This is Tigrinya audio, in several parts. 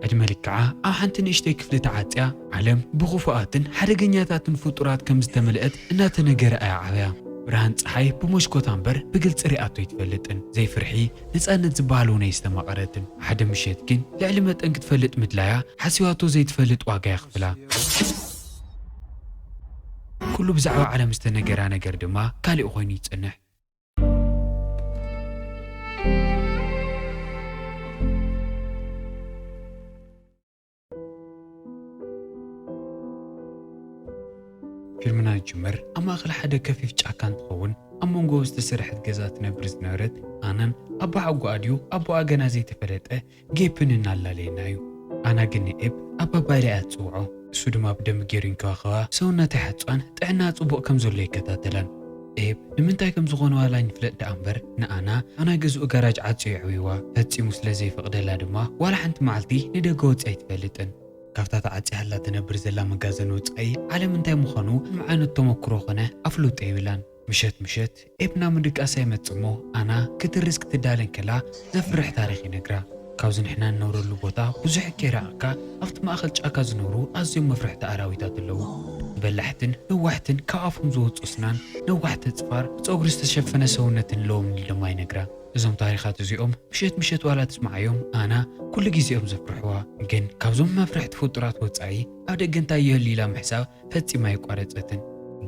ዕድመ ልክዓ ኣብ ሓንቲ ንእሽተይ ክፍሊ ተዓጽያ፣ ዓለም ብኽፉኣትን ሓደገኛታትን ፍጡራት ከም ዝተመልአት እናተነገራ እያ ዓብያ። ብርሃን ጸሓይ ብሞሽኮታ እምበር ብግልጺ ሪኣቶ ኣይትፈልጥን። ዘይፍርሒ፣ ነጻነት ዝበሃል እውን ኣየስተማቐረትን። ሓደ ምሸት ግን ልዕሊ መጠን ክትፈልጥ ምድላያ ሓሲባቶ ዘይትፈልጥ ዋጋ የኽፍላ። ኩሉ ብዛዕባ ዓለም ዝተነገራ ነገር ድማ ካሊእ ኮይኑ ይጸንሕ። ፊልምና ዝጅምር ኣብ ማእኸል ሓደ ከፊፍ ጫካ እንትኸውን ኣብ መንጎ ዝተሰርሐት ገዛ ትነብር ዝነበረት ኣናን ኣቦሓጎኣ ድዩ ኣቦኣ ገና ዘይተፈለጠ ጌፕን እናላለየና እዩ ኣና ግን ንኤብ ኣባባ ኢለ እያ ዝፅውዖ እሱ ድማ ብደንቢ ገይሩ ይንከባኸባ ሰውነታ ይሓፅባን ጥዕናኣ ፅቡቕ ከም ዘሎ ይከታተላን ኤብ ንምንታይ ከም ዝኾነ ዋላ ኣይንፍለጥ ደኣ እምበር ንኣና ኣና ገዝኡ ጋራጅ ዓፅዩ የዕብይዋ ፈፂሙ ስለ ዘይፈቕደላ ድማ ዋላ ሓንቲ መዓልቲ ንደገ ወፂኣ ኣይትፈልጥን ካብታ ተዓፅያላ ትነብር ዘላ መጋዘን ወፃኢ ዓለም እንታይ ምዃኑ ምንም ዓይነት ተሞክሮ ኮነ ኣፍልጦ የብላን። ምሸት ምሸት ኤፕና ምድቃሳ ይመጽእ እሞ ኣና ክትርስ ክትዳለ እንከላ ዘፍርሕ ታሪኽ ይነግራ። ካብዚ ንሕና ንነብረሉ ቦታ ብዙሕ ከይራቀካ ኣብቲ ማእከል ጫካ ዝነብሩ ኣዝዮም መፍርሕቲ ኣራዊታት ኣለዉ። በላሕትን ነዋሕትን ካብ ኣፎም ዝወጽእ ኣስናን ነዋሕቲ ኣጽፋር ብጸጉሪ ዝተሸፈነ ሰውነትን ኣለዎም ንል ድማ ይነግራ። እዞም ታሪኻት እዚኦም ምሸት ምሸት ዋላ ትስምዓዮም ኣና ኩሉ ግዜ እዮም ዘፍርሕዋ። ግን ካብዞም መፍርሕቲ ፍጡራት ወጻኢ ኣብ ደገ እንታይ ይህሉ ኢላ ምሕሳብ ፈጺማ ኣይቋረጸትን።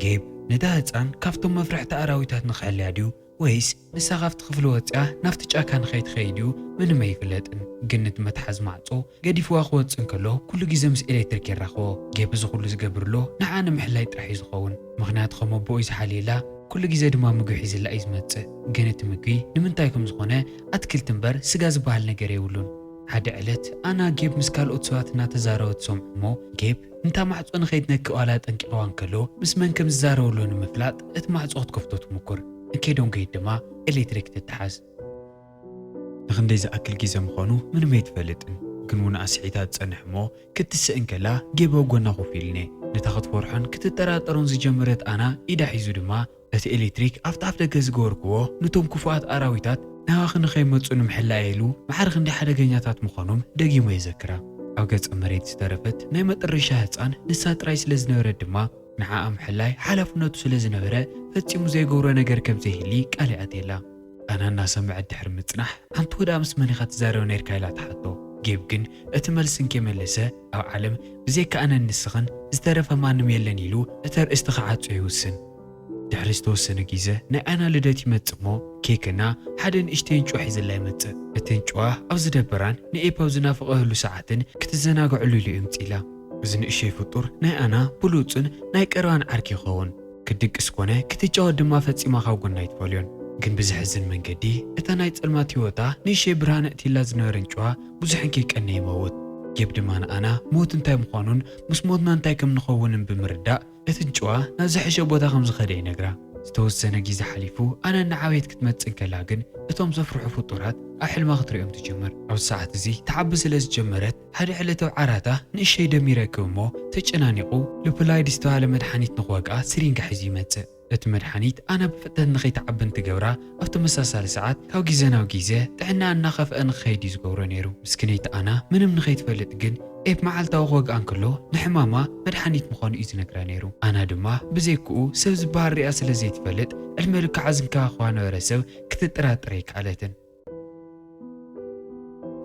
ጌብ፣ ነታ ህጻን ካብቶም መፍራሕቲ ኣራዊታት ንኽሕልያ ድዩ ወይስ ንሳ ካብቲ ክፍሊ ወጺኣ ናብቲ ጫካ ንኸይትኸይድ እዩ ምንም ኣይፍለጥን። ግን ነቲ መትሓዚ ማዕጾ ገዲፍዋ ክወጽእ እንከሎ ኩሉ ግዜ ምስ ኤለትሪክ የራኽቦ። ጌብ እዚ ኩሉ ዝገብርሎ ንዓኣ ንምሕላይ ጥራሕ እዩ ዝኸውን። ምኽንያቱ ከም ኣቦኡ እዩ ዝሓልየላ። ኩሉ ግዜ ድማ ምግቢ ሒዝላ እዩ ዝመጽእ። ግን እቲ ምግቢ ንምንታይ ከም ዝኾነ ኣትክልቲ እምበር ስጋ ዝበሃል ነገር የብሉን። ሓደ ዕለት ኣና ጌብ ምስ ካልኦት ሰባት እናተዛረወ ትሰምዖ እሞ ጌብ፣ ነታ ማዕጾ ንኸይትነክእ ዋላ ኣጠንቂቕዋ እንከሎ፣ ምስ መን ከም ዝዛረበሉ ንምፍላጥ እቲ ማዕጾ ክትከፍቶ ትሙኩር። እንከይዶም ከይድ ድማ ኤሌክትሪክ ትተሓዝ። ንኽንደይ ዝኣክል ግዜ ምዃኑ ምንም ኣይትፈልጥን፣ ግን እውን ኣስሒታ ትጸንሕ እሞ ክትስእ እንከላ ጌብ ኣብ ጎና ኮፍ ኢሉኔ። ነታ ክትፈርሖን ክትጠራጠሮን ዝጀመረት ኣና ኢዳ ሒዙ ድማ፣ እቲ ኤሌክትሪክ ኣብቲ ኣፍደገ ዝገበርኩዎ ኑቶም ክፉኣት ኣራዊታት ናባኺ ንኸይመጹ ንምሕላ'የ ኢሉ ማዕረ ክንደይ ሓደገኛታት ምዃኖም ደጊሙ የዘክራ። ኣብ ገጸ መሬት ዝተረፈት ናይ መጠረሻ ህጻን ንሳ ጥራይ ስለ ዝነበረት ድማ ንዓኣ ምሕላይ ሓላፍነቱ ስለ ዝነበረ ፈጺሙ ዘይገብሮ ነገር ከም ዘይህሊ ቃል ይኣትየላ። ኣና እናሰመዐት ድሕሪ ምጽናሕ፣ ኣንቲ ወድኣ ምስ መን ኢኻ ትዛረብ ነይርካ ኢላ ትሓቶ። ጌብ ግን እቲ መልሲ እንከይመለሰ ኣብ ዓለም ብዘይካ ኣነን ንስኽን ዝተረፈ ማንም የለን ኢሉ እቲ ኣርእስቲ ክዓጾ ይውስን። ድሕሪ ዝተወሰነ ጊዘ ናይ ኣና ልደት ይመጽእ እሞ ኬክ እና ሓደ ንእሽተይ እንጭዋ ሒዝላ ይመጽእ። እቲ እንጭዋ ኣብ ዝደበራን ንኤፕ ኣብ ዝናፍቐህሉ ሰዓትን ክትዘናገዐሉ ኢሉ የምጽኢላ። እዚ ንእሸይ ፍጡር ናይ ኣና ብሉጽን ናይ ቀረባን ዓርኪ ይኸውን። ክትድቅስ ኮነ ክትጫወት ድማ ፈጺማ ካብ ጎና ኣይትፈልዮን። ግን ብዘሕዝን መንገዲ እታ ናይ ጸልማት ህይወታ ንእሸተይ ብርሃን ኣእትይላ ዝነበረን ጭዋ ብዙሕን ከይቀነየ ይመውት። ጌብ ድማ ንኣና ሞት እንታይ ምዃኑን ምስ ሞትና እንታይ ከም ንኸውንን ብምርዳእ እትን ጭዋ ናብ ዝሐሸ ቦታ ከም ዝኸደ ይነግራ። ዝተወሰነ ጊዘ ሓሊፉ ኣና እናዓበየት ክትመጽእ እንከላ ግን እቶም ዘፍርሑ ፍጡራት ኣብ ሕልማ ክትርእዮም ትጅምር። ኣብዚ ሰዓት እዚ ትዓቢ ስለ ዝጀመረት ሓደ ዕለታዊ ዓራታ ንእሸይ ደም ይረክብ እሞ ተጨናኒቑ ሉፕላይድ ዝተባህለ መድሓኒት ንኽወግኣ ስሪንጋ ሒዙ ይመጽእ። እቲ መድሓኒት ኣና ብፍጥነት ንኸይትዓብን ትገብራ፣ ኣብ ተመሳሳሊ ሰዓት ካብ ግዜ ናብ ግዜ ጥዕናኣ እናኸፍኣ ንኽኸይድ እዩ ዝገብሮ ነይሩ። ምስኪነይቲ ኣና ምንም ንኸይትፈልጥ ግን ኤብ መዓልታዊ ክወግኣ እንከሎ ንሕማማ መድሓኒት ምዃኑ እዩ ዝነግራ ነይሩ። ኣና ድማ ብዘይክኡ ሰብ ዝበሃል ሪኣ ስለ ዘይትፈልጥ ዕድመ ልክዓ ዝንከባኸባ ነበረ ሰብ ክትጥራጠር ኣይከኣለትን።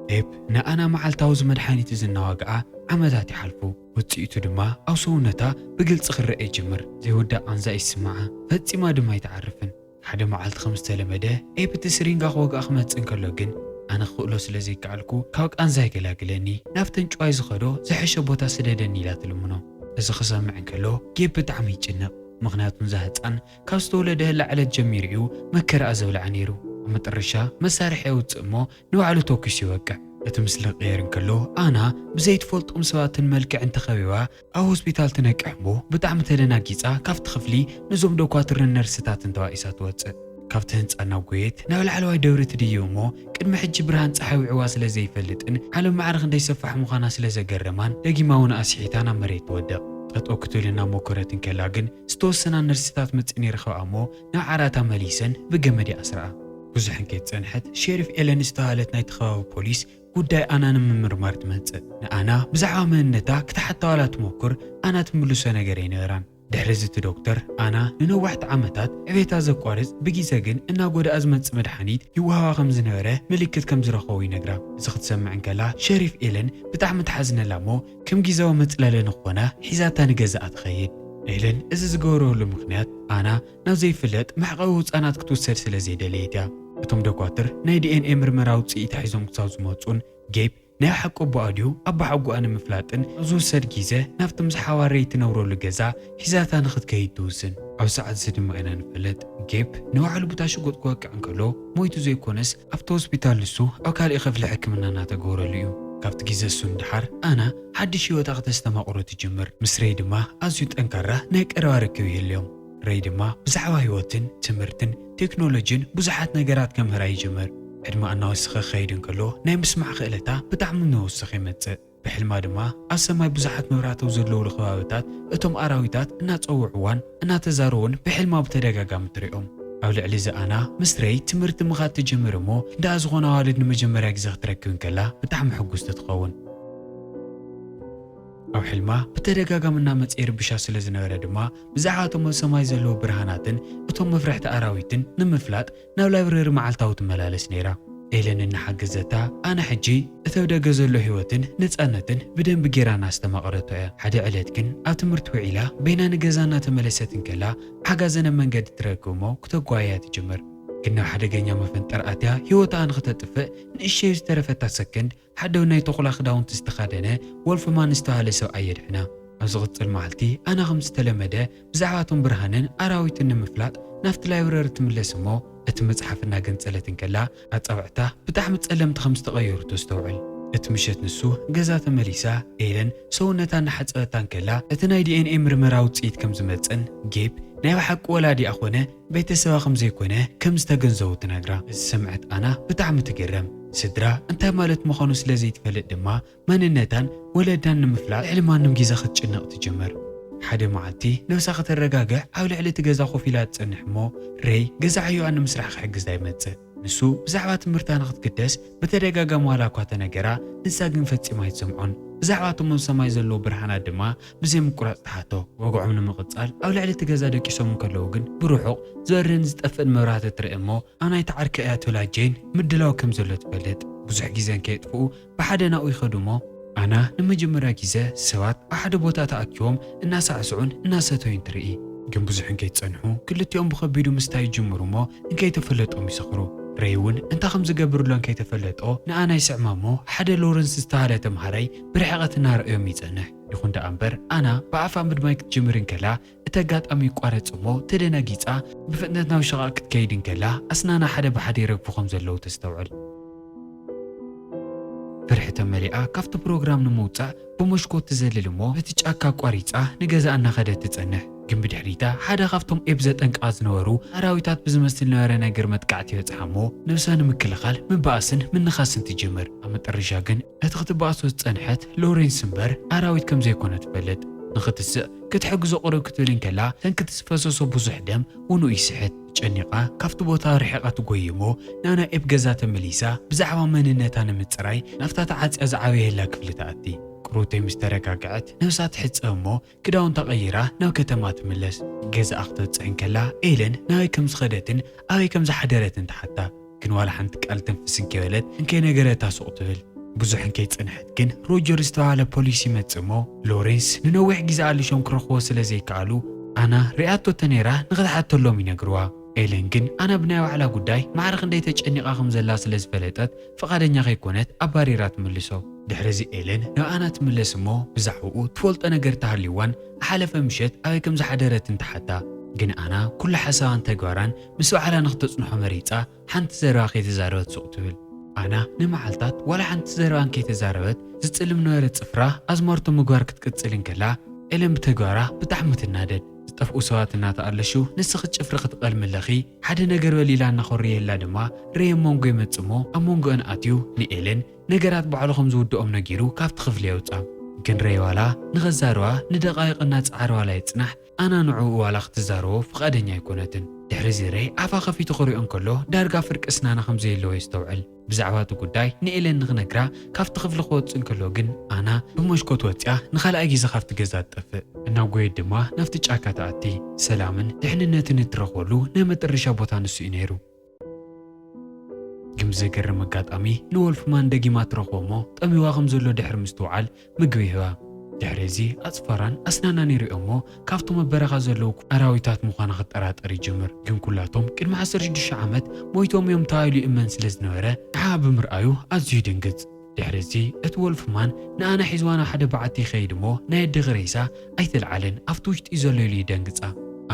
ፔፕ ንኣና መዓልታዊ እዚ መድሓኒት እዚ እናዋግኣ ዓመታት ይሓልፉ። ውጽኢቱ ድማ ኣብ ሰውነታ ብግልጺ ክረኣ ይጅምር። ዘይውዳእ ቃንዛ ይስምዓ፣ ፈጺማ ድማ ኣይትዓርፍን። ሓደ መዓልቲ ከም ዝተለመደ ኤፕ እቲ ስሪንጋ ክወግኣ ክመጽእ እንከሎ ግን ኣነ ክኽእሎ ስለ ዘይከኣልኩ ካብ ቃንዛይ ገላግለኒ፣ ናብተን ጭዋይ ዝኸዶ ዝሐሸ ቦታ ስደደኒ ኢላ ትልምኖ። እዚ ክሰምዕ እንከሎ ጌብ ብጣዕሚ ይጭነቕ፣ ምኽንያቱ ንዛ ህጻን ካብ ዝተወለደህላ ዕለት ጀሚሩ እዩ መከራኣ ዘብልዓ ነይሩ። ኣብ መጠረሻ መሳርሒ የውጽእ እሞ ንባዕሉ ተኲሱ ይወቅዕ። እቲ ምስሊ ክቕየር እንከሎ ኣና ብዘይትፈልጦም ሰባትን መልክዕን ተኸቢባ ኣብ ሆስፒታል ትነቅሕ እሞ ብጣዕሚ ተደናጊጻ ካብቲ ክፍሊ ነዞም ዶኳትርን ነርስታትን ተባኢሳ ትወጽእ። ካብቲ ህንጻ እናጎየት ናብ ላዕለዋይ ደብሪ ትድይብ እሞ ቅድሚ ሕጂ ብርሃን ጸሓይ ውዕዋ ስለ ዘይፈልጥን ዓለም ማዕረ ክንደይ ሰፋሕ ምዃና ስለ ዘገረማን ደጊማ እውን ኣስሒታ ናብ መሬት ትወድቕ። ጠጠው ክትብል እናሞከረት እንከላ ግን ዝተወሰና ነርስታት መጺኤን ይረኽባኣ እሞ ናብ ዓራታ መሊሰን ብገመድ ይኣስራኣ። ብዙሕን ከይጸንሐት ሼሪፍ ኤለን ዝተባህለት ናይቲ ከባቢ ፖሊስ ጉዳይ ኣና ንምምርማር ትመጽእ። ንኣና ብዛዕባ መንነታ ክትሓታ ዋላ ትሞክር ኣና ትምልሶ ነገር ኣይነበራን። ድሕሪ እዚ እቲ ዶክተር ኣና ንነዋሕቲ ዓመታት ዕቤታ ዘቋርጽ ብጊዘ ግን እናጎደኣ ዝመጽእ መድሓኒት ይወሃባ ከም ዝነበረ ምልክት ከም ዝረኸቡ ይነግራ። እዚ ክትሰምዕ እንከላ ሸሪፍ ኤለን ብጣዕሚ ትሓዝነላ እሞ ከም ጊዛዊ መጽለሊ ንኾና ሒዛታ ንገዛኣ ትኸይድ። ኤለን እዚ ዝገበረሉ ምኽንያት ኣና ናብ ዘይፍለጥ መዕቐዊ ህጻናት ክትውሰድ ስለ ዘይደለየት እያ። እቶም ደኳትር ናይ ዲኤንኤ ምርመራ ውጽኢታ ሒዞም ክሳብ ዝመጹን ጌብ ናይ ብሓቂ ኣቦኣ ድዩ ኣባሓጎኣ ንምፍላጥን ኣብ ዝውሰድ ጊዘ ናብቲ ምስ ሓዋርይ ትነብረሉ ገዛ ሒዛታ ንኽትከይድ ትውስን። ኣብዚ ሰዓት እዚ ድማ ኢና ንፈልጥ ጌብ ንባዕሉ ብታ ሽጉጥ ክወቅዕ እንከሎ ሞይቱ ዘይኮነስ ኣብቲ ሆስፒታል ንሱ ኣብ ካሊእ ክፍሊ ሕክምና እናተገበረሉ እዩ። ካብቲ ግዘ እሱ ንደሓር ኣና ሓድሽ ህይወታ ክተስተማቕሮ ትጅምር። ምስ ረይ ድማ ኣዝዩ ጠንካራ ናይ ቀረባ ርክብ ይህልዮም። ረይ ድማ ብዛዕባ ህይወትን ትምህርትን ቴክኖሎጂን ብዙሓት ነገራት ከምህራ ይጅምር። ዕድመኣ እናወሰኸ ክኸይድ እንከሎ ናይ ምስማዕ ክእለታ ብጣዕሚ እናወሰኸ ይመፅእ። ብሕልማ ድማ ኣብ ሰማይ ብዙሓት መብራተው ዘለውሉ ከባብታት እቶም ኣራዊታት እናጸውዕዋን እናተዛረውን ብሕልማ ብተደጋጋሚ ትሪኦም። ኣብ ልዕሊ እዚ ኣና ምስ ረይ ትምህርቲ ምኻድ ትጅምር እሞ ደኣ ዝኾነ ኣዋልድ ንመጀመርያ ግዜ ክትረክብ እንከላ ብጣዕሚ ሕጉስቲ ትኸውን። ኣብ ሕልማ ብተደጋጋሚ እናመጸ ይርብሻ ስለ ዝነበረ ድማ ብዛዕባ እቶም ኣብ ሰማይ ዘለዉ ብርሃናትን እቶም መፍርሕቲ ኣራዊትን ንምፍላጥ ናብ ላይብረሪ መዓልታዊ ትመላለስ ነይራ። ኤለን እናሓገዘታ፣ ኣነ ሕጂ እቲ ኣብ ደገ ዘሎ ህይወትን ነጻነትን ብደንቢ ገይራ እናኣስተማቐረቶ እያ። ሓደ ዕለት ግን ኣብ ትምህርቲ ውዒላ በይና ንገዛ እናተመለሰት እንከላ ሓጋዘን ኣብ መንገዲ ትረክብ እሞ ክተጓይያ ትጅምር። ግን ናብ ሓደገኛ መፈንጠር ኣትያ ህይወታ ንክተጥፍእ ንእሽተይ ዝተረፈታ ሰከንድ ሓደ ናይ ተኹላ ክዳውንቲ ዝተኸደነ ወልፍማን ዝተባህለ ሰብኣይ የድሕና። ኣብ ዝቕጽል መዓልቲ ኣና ከም ዝተለመደ ብዛዕባ እቶም ብርሃንን ኣራዊትን ንምፍላጥ ናብቲ ላይብረሪ ትምለስ እሞ እቲ መጽሓፍ እናገንጸለት እንከላ ኣጻብዕታ ብጣዕሚ ጸለምቲ ከም ዝተቐየሩ ተስተውዕል። እቲ ምሸት ንሱ ገዛ ተመሊሳ ኤለን ሰውነታ እናሓጸበታ እንከላ እቲ ናይ ዲኤንኤ ምርመራ ውጽኢት ከም ዝመጽእን ጌብ ናይ ብሓቂ ወላዲኣ ኮነ ቤተሰባ ከም ዘይኮነ ከም ዝተገንዘቡ ትነግራ። ዝሰምዐት ኣና ብጣዕሚ ትግረም። ስድራ እንታይ ማለት ምዃኑ ስለ ዘይትፈልጥ ድማ መንነታን ወለዳን ንምፍላጥ ልዕሊ ማንም ግዜ ክትጭነቕ ትጅምር። ሓደ መዓልቲ ነብሳ ከተረጋግዕ ኣብ ልዕሊ እቲ ገዛ ኮፍ ኢላ ትጸንሕ እሞ ሬይ ገዛ ዕዮኣ ንምስራሕ ክሕግዛ ይመጽእ። ንሱ ብዛዕባ ትምህርታ ንክትግደስ ብተደጋጋሚ ዋላ እኳ ተነገራ ንሳ ግን ፈጺማ ኣይትሰምዖን። ብዛዕባ እቶም ኣብ ሰማይ ዘለዉ ብርሃናት ድማ ብዘይምቁራጽ ትሓቶ። ወግዖም ንምቕጻል ኣብ ልዕሊ እቲ ገዛ ደቂሶም እንከለዉ ግን ብርሑቕ ዝበርህን ዝጠፍእን መብራህቲ ትርኢ እሞ ኣብ ናይቲ ዓርኪ እያ ትብላ ጀይን ምድላው ከም ዘሎ ትፈልጥ። ብዙሕ ግዜ እንከየጥፍኡ ብሓደ ናብኡ ይኸዱ እሞ፣ ኣና ንመጀመርያ ግዜ ሰባት ኣብ ሓደ ቦታ ተኣኪቦም እናሳዕስዑን እናሰተዩን ትርኢ። ግን ብዙሕ እንከይጸንሑ ክልቲኦም ብኸቢዱ ምስታይ ይጅምሩ እሞ እንከይተፈለጦም ይሰኽሩ። ረይ እውን እንታይ ከም ዝገብርሎ እንከይተፈለጦ ንኣና ይስዕማ እሞ ሓደ ሎረንስ ዝተባህለ ተምሃራይ ብርሕቐት እናረኣዮም ይጸንሕ። ይኹን ደኣ እምበር ኣና ብኣፋ ምድማይ ክትጅምር እንከላ እቲ ኣጋጣሚ ይቋረጽ እሞ ተደናጊጻ ብፍጥነት ናብ ሽቓቕ ክትከይድ እንከላ ኣስናና ሓደ ብሓደ ይረግፉ ከም ዘለዉ ተስተውዕል። ፍርሒ ተመሊኣ ካብቲ ፕሮግራም ንምውጻእ ብሞሽኮት ትዘልል እሞ ነቲ ጫካ ኣቋሪጻ ንገዛኣ እናኸደት ትጸንሕ። ግን ብድሕሪታ ሓደ ካብቶም ኤብ ዘጠንቅቓ ዝነበሩ ኣራዊታት ብዝመስል ነበረ ነገር መጥቃዕቲ ይበጽሓ እሞ ነብሳ ንምክልኻል ምብኣስን ምንኻስን ትጅምር። ኣብ መጠረሻ ግን። ነቲ ክትበኣሶ ዝጸንሐት ሎሬንስ እምበር ኣራዊት ከም ዘይኮነ ትፈልጥ። ንኽትስእ ክትሕግዞ ቅርብ ክትብል እንከላ ሰንክቲ ዝፈሰሶ ብዙሕ ደም ውኑኡ ይስሕት። ተጨኒቓ ካብቲ ቦታ ርሒቓ ትጎዪ እሞ ናና ኤብ ገዛ ተመሊሳ ብዛዕባ መንነታ ንምጽራይ ናብታ ተዓጽያ ዝዓበየላ ክፍሊ ትኣቲ። ቅሩብተይ ምስ ተረጋግዐት ነብሳ ትሕጸብ እሞ ክዳውንታ ቀይራ ናብ ከተማ ትምለስ። ገዛኣ ክትበጽሕ እንከላ ኤለን ናበይ ከም ዝኸደትን ኣበይ ከም ዝሓደረትን ትሓታ። ግን ዋላ ሓንቲ ቃል ትንፍስ እንከይበለት እንከይነገረታ ሱቕ ትብል። ብዙሕ እንከይጸንሐት ግን ሮጀር ዝተባህለ ፖሊስ ይመጽእ እሞ ሎሬንስ ንነዊሕ ግዜ ኣሊሾም ክረኽብዎ ስለ ዘይከኣሉ ኣና ሪኣቶ ተነይራ ንኽትሓተሎም ይነግርዋ። ኤለን ግን ኣና ብናይ ባዕላ ጉዳይ ማዕረ ክንደይ ተጨኒቓ ከም ዘላ ስለ ዝፈለጠት ፍቓደኛ ከይኮነት ኣባሪራ ትምልሶ። ድሕሪ'ዚ ኤለን ንኣና ትምለስ እሞ ብዛዕባኡ ትፈልጦ ነገር እንተሃልዩዋን እሓለፈ ምሸት ኣበይ ከም ዝሓደረትን ትሓታ። ግን ኣና ኩሉ ሓሳባን ተግባራን ምስ ባዕላ ንክተጽንሖ መሪጻ ሓንቲ ዘረባ ከይተዛረበት ሱቕ ትብል። ኣና ንመዓልታት ዋላ ሓንቲ ዘረባ እንከይተዛረበት ዝጽልም ነበረ ጽፍራ ኣዝማርቶ ምግባር ክትቅጽል እንከላ ኤለን ብተግባራ ብጣዕሚ ትናደድ። ዝጠፍኡ ሰባት እናተኣለሹ ንስኺ ጭፍሪ ክትቐልሚ ኣለኺ፣ ሓደ ነገር በል ኢላ እናኾረየላ ድማ ረይ ኣብ መንጎ ይመጽእ'ሞ ኣብ መንጎኣን ኣትዩ ንኤለን ነገራት ባዕሉ ከም ዝውድኦም ነጊሩ ካብቲ ክፍሊ የውጽኣ። ግን ረይ ዋላ ንኸዛርባ ንደቓይቕ እናጸዓረ ዋላ ይጽናሕ ኣና ንዕኡ ዋላ ክትዛረቦ ፍቓደኛ ኣይኮነትን። ድሕሪ'ዚ ረይ ኣፋ ከፊቱ ክሪኦ እንከሎ ዳርጋ ፍርቂ ስናና ከም ዘየለዎ የስተውዕል። ብዛዕባ እቲ ጉዳይ ንኤለን ንኽነግራ ካብቲ ክፍሊ ክወጽእ እንከሎ ግን ኣና ብመሽኮት ወጺኣ ንኻልኣይ ግዜ ካብቲ ገዛ ትጠፍእ። እናጎየት ድማ ናብቲ ጫካ ትኣቲ። ሰላምን ድሕንነትን እትረኽበሉ ናይ መጠረሻ ቦታ ንሱ እዩ ነይሩ። ግን ብዘገርም ኣጋጣሚ ንወልፍማን ደጊማ ትረኽቦ እሞ ጠምዩዋ ከም ዘሎ ድሕሪ ምስትውዓል ምግቢ ይህባ። ድሕሪ እዚ ኣጽፋራን ኣስናናን ይርእዮ እሞ ካብቶም ኣብ በረኻ ዘለዉ ኣራዊታት ምዃና ክጠራጠር ይጅምር። ግን ኩላቶም ቅድሚ ዓሰርተ ሽዱሽተ ዓመት ሞይቶም እዮም ተባሂሉ ይእመን ስለ ዝነበረ ንዓኣ ብምርኣዩ ኣዝዩ ይድንግጽ። ድሕሪ እዚ እቲ ወልፍማን ንኣና ሒዝዋ ናብ ሓደ በዓቲ ይኸይድ እሞ ናይ ኣደኺ ሬሳ ኣይተልዓልን ኣብቲ ውሽጢ እዩ ዘሎ ኢሉ ይደንግጻ።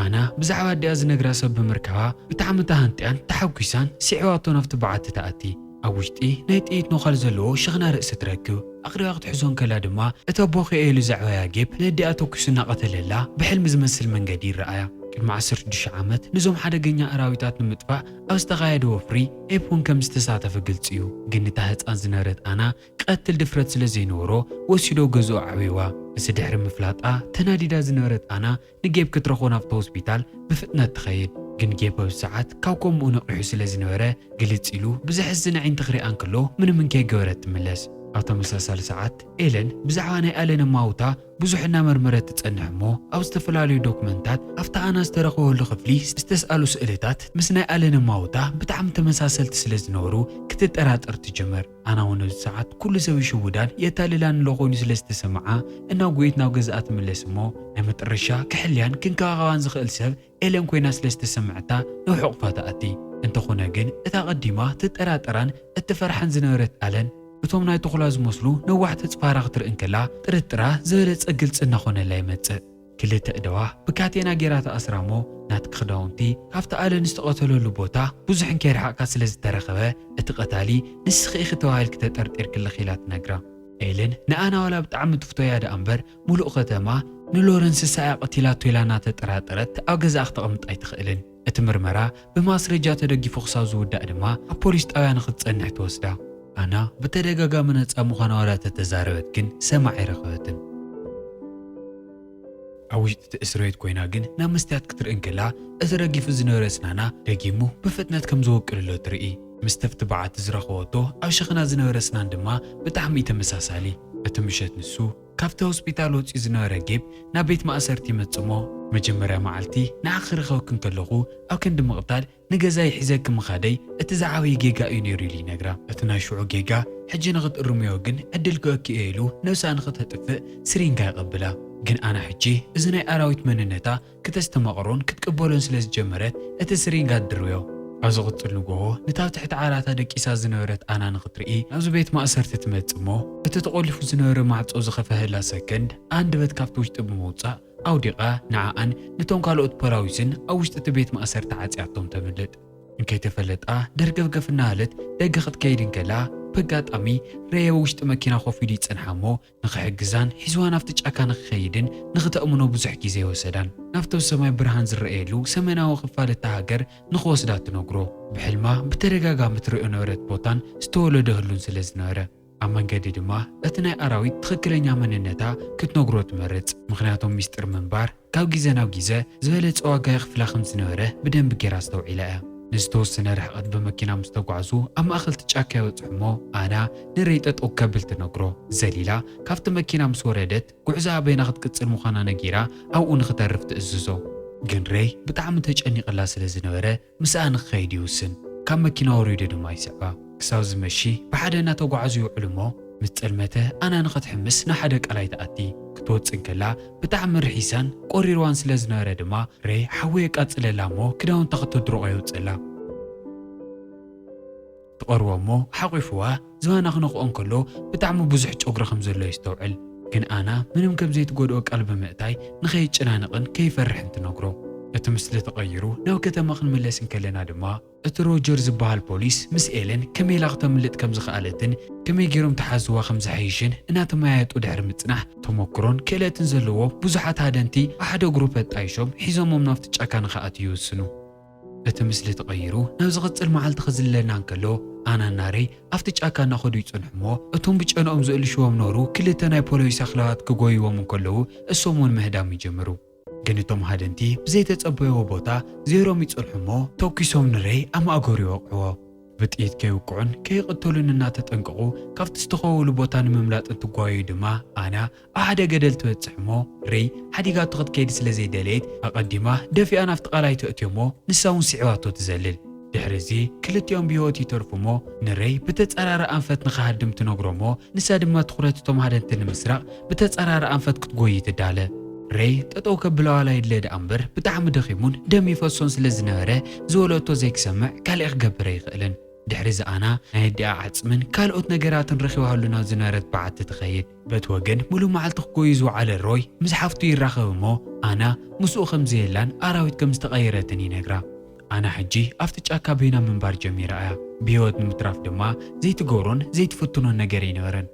ኣና ብዛዕባ ኣዲኣ ዝነግራ ሰብ ብምርካባ ብጣዕሚ ተሃንጥያን ተሓጒሳን ስዒባቶ ናብቲ በዓቲ ትኣቲ። ኣብ ውሽጢ ናይ ጥይት ኖኸል ዘለዎ ሽኽና ርእሲ ትረክብ። ኣኽሪባ ክትሕዞ እንከላ ድማ እቲ ኣቦ ክኣ ኢሉ ዘዕበያ ጌፕ ነዲኣ ተኲሱ እናቐተለላ ብሕልሚ ዝመስል መንገዲ ይረኣያ። ቅድሚ ዓሰርተ ሽዱሽተ ዓመት ንዞም ሓደገኛ ኣራዊታት ንምጥፋእ ኣብ ዝተኻየደ ወፍሪ ኤፕ እውን ከም ዝተሳተፈ ግልጺ እዩ። ግን እታ ህጻን ዝነበረት ኣና ክቐትል ድፍረት ስለ ዘይነበሮ ወሲዶ ገዝኡ ኣዕብዩዋ። እዚ ድሕሪ ምፍላጣ ተናዲዳ ዝነበረት ኣና ንጌብ ክትረኽቦ ናብቲ ሆስፒታል ብፍጥነት ትኸይድ፣ ግን ጌብ በዚ ሰዓት ካብ ኮምኡ ነቒሑ ስለ ዝነበረ ግልጽ ኢሉ ብዘሕዝን ኣዒንቲ ክሪኣ እንክሎ ምንምን ከይገበረት ትምለስ። ኣብ ተመሳሳሊ ሰዓት ኤለን ብዛዕባ ናይ ኣለን ኣማውታ ብዙሕ እናመርመረት ትጸንሕ እሞ ኣብ ዝተፈላለዩ ዶክመንታት ኣብቲ ኣና ዝተረኽበሉ ክፍሊ ዝተስኣሉ ስእልታት ምስ ናይ ኣለን ኣማውታ ብጣዕሚ ተመሳሰልቲ ስለ ዝነበሩ ክትጠራጠር ትጅምር። ኣና እውን ኣብዚ ሰዓት ኩሉ ሰብ ይሽውዳን የታልላን ኣሎ ኮይኑ ስለ ዝተሰምዓ እናጎየት ናብ ገዝኣ ትምለስ እሞ ናይ መጠረሻ ክሕልያን ክንከባኸባን ዝኽእል ሰብ ኤለን ኮይና ስለ ዝተሰምዐታ ናብ ሕቑፋ ትኣቲ እንተኾነ ግን እታ ኣቐዲማ ትጠራጠራን እትፈርሓን ዝነበረት ኣለን እቶም ናይ ቶኹላ ዝመስሉ ነዋሕቲ ኣጽፋራ ክትርኢ እንከላ ጥርጥራ ዝበለጸ ግልጺ እናኾነላ ይመጽእ። ክልተ እደዋ ብካቴና ጌራ ተኣስራ እሞ ናትኪ ክዳውንቲ ካብቲ ኣለን ዝተቐተለሉ ቦታ ብዙሕ እንከይረሓቕካ ስለ ዝተረኸበ እቲ ቀታሊ ንስኺ ኢኺ ተባሂልኪ ተጠርጢርክልኺ ኢላ ትነግራ። ኤለን ንኣና ዋላ ብጣዕሚ ትፍቶያ ደኣ እምበር ሙሉእ ከተማ ንሎረንስሳ እያ ቀቲላቶ ኢላ እናተጠራጠረት ኣብ ገዛኣ ክተቕምጣ ኣይትኽእልን። እቲ ምርመራ ብማስረጃ ተደጊፉ ክሳብ ዝውዳእ ድማ ኣብ ፖሊስ ጣብያ ንክትፀንሕ ትወስዳ። ኣና ብተደጋጋሚ ነፃ ምዃና ዋላ ተተዛረበት ግን ሰማዒ ኣይረኸበትን። ኣብ ውሽጢ እቲ እስርቤት ኮይና ግን ናብ መስትያት ክትርኢ እንከላ እቲ ረጊፉ ዝነበረ ስናና ደጊሙ ብፍጥነት ከም ዝወቅልሎ ትርኢ። ምስ ተፍቲ በዓቲ ዝረኸበቶ ኣብ ሸኽና ዝነበረ ስናን ድማ ብጣዕሚ እዩ ተመሳሳሊ። እቲ ምሸት ንሱ። ካብቲ ሆስፒታል ወጺኡ ዝነበረ ጌብ ናብ ቤት ማእሰርቲ ይመጽእ'ሞ፣ መጀመርያ መዓልቲ ንዓኺ ክረኽበኪ እንከለኹ ኣብ ክንዲ ምቕታል ንገዛይ ሒዘኪ ምኻደይ እቲ ዝዓበየ ጌጋ እዩ ነይሩ ኢሉ ይነግራ። እቲ ናይ ሽዑ ጌጋ ሕጂ ንኽትእርምዮ ግን ዕድል ክህበኪ እየ ኢሉ ነብሳ ንኽተጥፍእ ስሪንጋ ይቐብላ። ግን ኣና ሕጂ እዚ ናይ ኣራዊት መንነታ ክተስተማቕሮን ክትቅበሎን ስለ ዝጀመረት፣ እቲ ስሪንጋ ድርብዮ። ኣብ ዝቕጽል ንግሆ፣ ነታ ኣብ ትሕቲ ዓራታ ደቂሳ ዝነበረት ኣና ንኽትርኢ ናብዚ ቤት ማእሰርቲ ትመጽእ እሞ፣ እቲ ተቖሊፉ ዝነበረ ማዕጾ ዝኸፈሀላ ሰከንድ ኣንደበት ካብቲ ውሽጢ ብምውጻእ ኣውዲቓ ንዓኣን ነቶም ካልኦት ፖላዊስን ኣብ ውሽጢ እቲ ቤት ማእሰርቲ ዓጽያቶም ተምልጥ። እንከይተፈለጣ ደርገፍገፍ እናበለት ደገ ክትከይድ እንከላ፣ በጋጣሚ ረየበ ውሽጢ መኪና ኮፍ ኢሉ ይጸንሓ እሞ፣ ንኽሕግዛን ሒዝዋ ናብቲ ጫካ ንኽኸይድን ንኽተእምኖ ብዙሕ ግዜ ወሰዳን። ናብቲ ኣብ ሰማይ ብርሃን ዝረኣየሉ ሰሜናዊ ኽፋል እታ ሃገር ንኽወስዳ ትነግሮ። ብሕልማ ብተደጋጋሚ ትርእዮ ነበረት ቦታን ዝተወለደ ህሉን ስለ ዝነበረ። ኣብ መንገዲ ድማ እቲ ናይ ኣራዊት ትኽክለኛ መንነታ ክትነግሮ ትመርጽ። ምኽንያቶም ሚስጢር ምንባር። ካብ ግዜ ናብ ግዜ ዝበለጸ ዋጋ የኽፍላ ከም ዝነበረ ብደንቢ ገይራ ኣስተውዒላ እያ። ንዝተወሰነ ርሕቐት ብመኪና ምስ ተጓዕዙ ኣብ ማእኸል'ቲ ጫካ ይበጽሑ እሞ ኣና ንረይ ጠጠው ከብል ትነግሮ። ዘሊላ ካብቲ መኪና ምስ ወረደት ጉዕዞኣ ኣበይና ክትቅጽል ምዃና ነጊራ ኣብኡ ንኽተርፍ ትእዝዞ። ግን ረይ ብጣዕሚ ተጨኒቕላ ስለ ዝነበረ ምስኣ ንክኸይድ ይውስን። ካብ መኪና ወሪዱ ድማ ይስዕባ። ክሳብ ዝመሺ ብሓደ እናተጓዓዙ ይውዕሉ እሞ ምስ ጸልመተ ኣና ንክትሕምስ ንሓደ ቀላይ ትኣቲ። ክትወጽእ እንከላ ብጣዕሚ ርሒሳን ቆሪርዋን ስለ ዝነበረ ድማ ረይ ሓዊ የቃጽለላ እሞ ክዳውንታ ክትድርቖ የውጽእላ። ትቐርቦ እሞ ሓቝፉዋ ዝባና ክነኽኦ እንከሎ ብጣዕሚ ብዙሕ ጨጉሪ ከም ዘሎ የስተውዕል። ግን ኣና ምንም ከም ዘይትጎድኦ ቃል ብምእታይ ንኸይጨናነቕን ከይፈርሕን ትነግሮ። እቲ ምስሊ ተቐይሩ ናብ ከተማ ክንምለስ እንከለና ድማ እቲ ሮጀር ዝበሃል ፖሊስ ምስ ኤለን ከመይ ኢላ ክተምልጥ ከም ዝኸኣለትን ከመይ ገይሮም ተሓዝዋ ከም ዝሓይሽን እናተመያየጡ ድሕሪ ምጽናሕ ተሞክሮን ክእለትን ዘለዎም ብዙሓት ሃደንቲ ኣብ ሓደ ግሩፕ ኣጣይሾም ሒዞሞም ናብቲ ጫካ ንኽኣትው ይውስኑ። እቲ ምስሊ ተቐይሩ ናብ ዝቕጽል መዓልቲ ክዝለና እንከሎ፣ ኣናን ናረይ ኣብቲ ጫካ እናኸዱ ይጸንሑ እሞ፣ እቶም ብጨንኦም ዝእልሽዎም ነበሩ ክልተ ናይ ፖለዊስ ኣኽላባት ክጎይዎም እንከለዉ እሶም ውን ምህዳም ይጀምሩ። ግን እቶም ሃደንቲ ብዘይተጸበይዎ ቦታ ዜሮም ይጸንሑ እሞ፣ ተኩሶም ንረይ ኣብ ማእገሩ ይወቕዕዎ። ብጥይት ከይውቅዑን ከይቕተሉን እናተጠንቀቑ ካብቲ ዝተኸወሉ ቦታ ንምምላጥ እንትጓየዩ ድማ ኣና ብሓደ ገደል ትበጽሕ እሞ ሬይ ሓዲጋቶ ክትከይድ ስለ ዘይደለየት ኣቐዲማ ደፊኣ ናብቲ ቐላይ ተእትዮ እሞ ንሳ እውን ስዒባቶ ትዘልል። ድሕሪ እዚ ክልቲኦም ብህይወት ይተርፉ እሞ ንሬይ ብተጻራሪ ኣንፈት ንኽሃድም ትነግሮ እሞ ንሳ ድማ ትኹረት እቶም ሃደንቲ ንምስራቕ ብተጻራሪ ኣንፈት ክትጎዪ ትዳለ። ሬይ ጠጠው ከብላ ዋላ ይድለ ደኣ እምበር ብጣዕሚ ደኺሙን ደም ይፈሶን ስለ ዝነበረ ዝወለቶ ዘይክሰምዕ ካሊእ ክገብር ኣይኽእልን። ድሕሪ እዚ ኣና ናይ ኣዲኣ ዓጽምን ካልኦት ነገራትን ረኺባሉ ናብ ዝነበረት በዓቲ ትኸይድ። በቲ ወገን ምሉእ መዓልቲ ክጎዩ ዝወዓለ ሮይ ምስ ሓፍቱ ይራኸብ እሞ ኣና ምስኡ ከም ዘየላን ኣራዊት ከም ዝተቐየረትን ይነግራ። ኣና ሕጂ ኣብቲ ጫካ በይና ምንባር ጀሚራ እያ፣ ብህይወት ንምትራፍ ድማ ዘይትገብሮን ዘይትፍትኖን ነገር ኣይነበረን።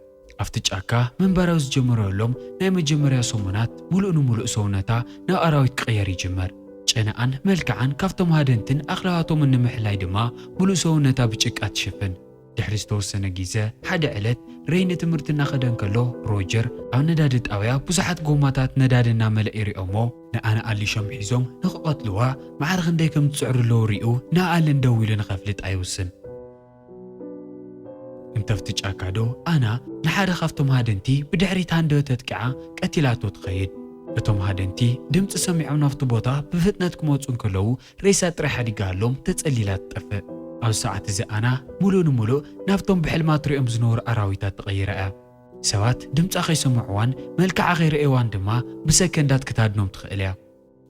ኣብቲ ጫካ ምንባር ኣብ ዝጀመረሎም ናይ መጀመርያ ሰሙናት ምሉእ ንምሉእ ሰውነታ ናብ ኣራዊት ክቕየር ይጅምር። ጨነኣን መልክዓን ካብቶም ሃደንትን ኣኽላባቶምን ንምሕላይ ድማ ምሉእ ሰውነታ ብጭቃ ትሽፍን። ድሕሪ ዝተወሰነ ግዘ፣ ሓደ ዕለት ሬይ ንትምህርቲ እናኸደ እንከሎ፣ ሮጀር ኣብ ነዳዲ ጣብያ ብዙሓት ጎማታት ነዳዲ እናመልኣ ይሪኦም'ሞ ንኣ ንኣሊሾም ሒዞም ንክቐትልዋ ማዕረ ክንደይ ከም ዝፅዕሩ ኣለዉ ሪኡ ንኣ ኣለን ደው ኢሉ ንከፍልጣ ይውስን። እንተፍቲ ጫካ ዶ ኣና ንሓደ ካብቶም ሃደንቲ ብድሕሪት ሃንደበት ኣጥቂዓ ቀቲላቶ ትኸይድ። እቶም ሃደንቲ ድምፂ ሰሚዖም ናብቲ ቦታ ብፍጥነት ክመፁ እንከለዉ ሬሳ ጥራይ ሓዲጋ ኣሎም ተጸሊላ ትጠፍእ። ኣብዚ ሰዓት እዚ ኣና ምሉእ ንምሉእ ናብቶም ብሕልማ ትርእዮም ዝነበሩ ኣራዊታት ተቐይራ እያ። ሰባት ድምጻ ከይሰምዕዋን መልክዓ ከይረኣይዋን ድማ ብሰከንዳት ክትሃድኖም ትኽእል እያ።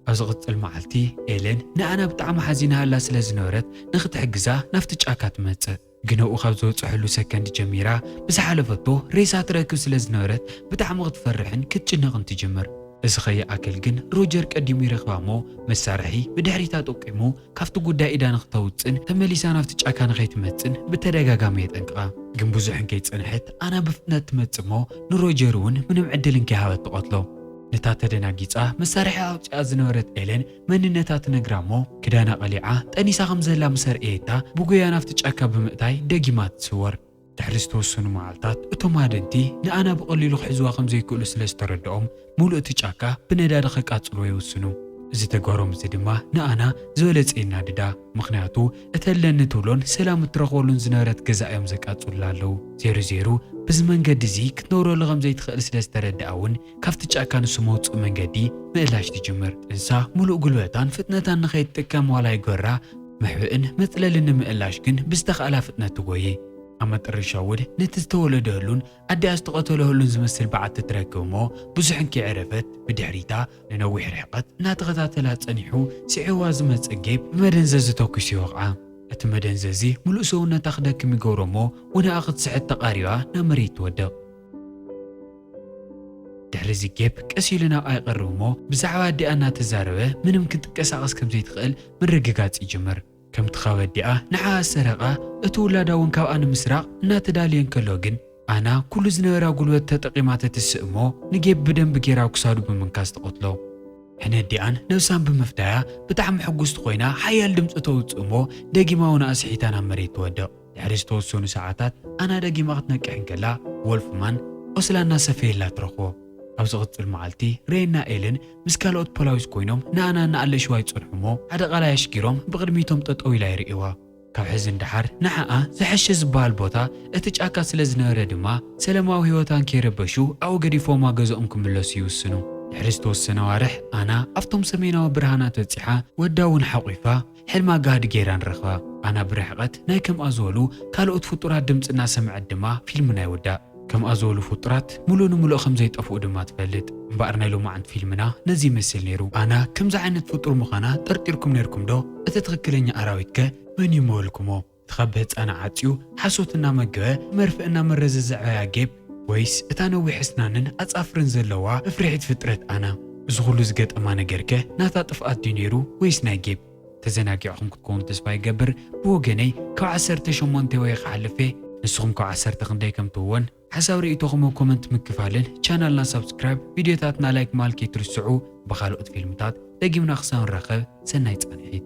ኣብ ዝቕጽል መዓልቲ፣ ኤለን ንኣና ብጣዕሚ ሓዚናላ ስለ ዝነበረት ንኽትሕግዛ ናብቲ ጫካ ትመጽእ። ግንኡ ካብ ዝበጽሐሉ ሰከንድ ጀሚራ ብዝሓለፈቶ ሬሳ ትረክብ ስለ ዝነበረት ብጣዕሚ ክትፈርሕን ክትጭነቕን ትጅምር። እዚ ከይኣክል ግን ሮጀር ቀዲሙ ይረክባ'ሞ መሳርሒ ብድሕሪታ ጠቂሙ ካብቲ ጉዳይ ኢዳ ንክተውጽን ተመሊሳ ናብቲ ጫካ ንከይትመጽን ብተደጋጋሚ የጠንቅቓ። ግን ብዙሕ እንከይጸንሐት ኣና ብፍጥነት ትመጽእ'ሞ ንሮጀር'ውን ምንም ዕድል እንከይሃበት ትቐትሎ። ነታ ተደናጊጻ መሳርሒኣ ኣውጺኣ ዝነበረት ኤለን መንነታ ትነግራ'ሞ ክዳና ቀሊዓ ጠኒሳ ከም ዘላ ምስ ኣርእየታ ብጉያ ናብቲ ጫካ ብምእታይ ደጊማ ትስወር። ድሕሪ ዝተወሰኑ መዓልታት እቶም ሃደንቲ ንኣና ብቐሊሉ ክሕዝዋ ከም ዘይክእሉ ስለ ዝተረድኦም ምሉእ እቲ ጫካ ብነዳዲ ከቃጽልዎ ይውስኑ። እዚ ተግባሮም እዚ ድማ ንኣና ዝበለጸ የናድዳ። ምኽንያቱ እቲ ኣለኒ እትብሎን ሰላም እትረኽበሉን ዝነበረት ገዛኣ እዮም ዘቃጽሉላ ኣለዉ። ዜሩ ዜሩ ብዚ መንገዲ እዚ ክትነብረሉ ከም ዘይትኽእል ስለ ዝተረድኣ እውን ካብቲ ጫካ ንሱ መውጽኢ መንገዲ ምእላሽ ትጅምር። ጥንሳ ምሉእ ጉልበታን ፍጥነታን ንኸይትጥቀም ዋላ ይጎራ፣ መሕብእን መጽለልን ንምእላሽ ግን ብዝተኻእላ ፍጥነት ትጎዪ። ኣብ መጠረሻ ውድ ነቲ ዝተወለደህሉን ኣዲኣ ዝተቐተለህሉን ዝመስል በዓቲ ትረክብ እሞ ብዙሕ እንከይዐረፈት ብድሕሪታ ንነዊሕ ርሕቐት እናተኸታተላ ጸኒሑ ስዒቡዋ ዝመጽእ ጌብ ብመደንዘዚ ተኲሱ ይወቕዓ። እቲ መደንዘዚ ምሉእ ሰውነታ ክደክም ይገብሮ እሞ ወነኣ ክትስሕት ተቓሪባ ናብ መሬት ትወድቕ። ድሕሪ እዚ ጌፕ ቀስ ኢሉ ናብኣ ይቐርብ እሞ ብዛዕባ ኣዲኣ እናተዛረበ ምንም ክንትቀሳቐስ ከም ዘይትኽእል ምርግጋጽ ይጅምር። ከምቲ ካብ ኣዲኣ ንዓኣ ዝሰረቓ እቲ ውላዳ እውን ካብኣ ንምስራቕ እናተዳለየ እንከሎ ግን ኣና ኩሉ ዝነበራ ጉልበት ተጠቒማ ተትስእ እሞ ንጌፕ ብደንቢ ጌራ ኣብ ክሳዱ ብምንካስ ትቐትሎ። ሕነ ኣዲኣን ነብሳን ብምፍዳያ ብጣዕሚ ሕጉስቲ ኮይና ሓያል ድምጺ ተውጽእ እሞ ደጊማ እውን ኣስሒታ ናብ መሬት ትወድቕ። ድሕሪ ዝተወሰኑ ሰዓታት ኣና ደጊማ ክትነቅሕ እንከላ፣ ዎልፍማን ቈስላ እናሰፈየላ ትረኽቦ። ኣብ ዝቕጽል መዓልቲ፣ ሬይና ኤልን ምስ ካልኦት ፖላዊስ ኰይኖም ንኣና እናኣለሽዋ ይጸንሑ እሞ፣ ሓደ ቓላይ ኣሽጊሮም ብቕድሚቶም ጠጠው ኢላ ይርእይዋ። ካብ ሕዚ ንደሓር ንዓኣ ዝሐሸ ዝበሃል ቦታ እቲ ጫካ ስለ ዝነበረ ድማ፣ ሰለማዊ ህይወታ እንከይረበሹ ኣብኡ ገዲፎምዋ ገዝኦም ክምለሱ ይውስኑ። ድሕሪ ዝተወሰነ ኣዋርሕ፣ ኣና ኣብቶም ሰሜናዊ ብርሃናት በጺሓ ወዳ'ውን ሓቝፋ፣ ሕልማ ጋህዲ ገይራ ንረኽባ። ኣና ብርሕቐት ናይ ከምኣ ዝበሉ ካልኦት ፍጡራት ድምጺ እናሰምዐት ድማ ፊልምና ይውዳእ። ከምኣ ዝበሉ ፍጡራት ምሉእ ንምሉእ ከም ዘይጠፍኡ ድማ ትፈልጥ። እምበኣር ናይ ሎማዓንቲ ፊልምና ነዚ ይመስል ነይሩ። ኣና ከምዚ ዓይነት ፍጡር ምዃና ጠርጢርኩም ነይርኩም ዶ? እቲ ትኽክለኛ ኣራዊት ከ መን እዩ ምበልኩሞ? ትኸብድ ህጻና ዓጽዩ ሓሶት እናመገበ መርፍእ እናመረዘ ዘዕበያ ጌብ ወይስ እታ ነዊሕ እስናንን ኣጻፍርን ዘለዋ መፍርሒት ፍጥረት ኣና? እዚ ኹሉ ዝገጠማ ነገርከ ናታ ጥፍኣት ድዩ ነይሩ ወይስ ናይ ጌብ? ተዘናጊዕኹም ክትኮኑ ተስፋ ይገብር ብወገነይ ካብ ዓሰርተ ሸሞንተ ወይኸ ሓልፌ ንስኹም ካብ ዓሰርተ ክንደይ ከም ትወን ሓሳብ ሪኢቶኹም ኣብ ኮመንት ምክፋልን ቻናልና ሳብስክራይብ ቪድዮታትና ላይክ ምባል ከይትርስዑ ብኻልኦት ፊልምታት ደጊምና ክሳብ ንራኸብ ሰናይ ፃንሒት።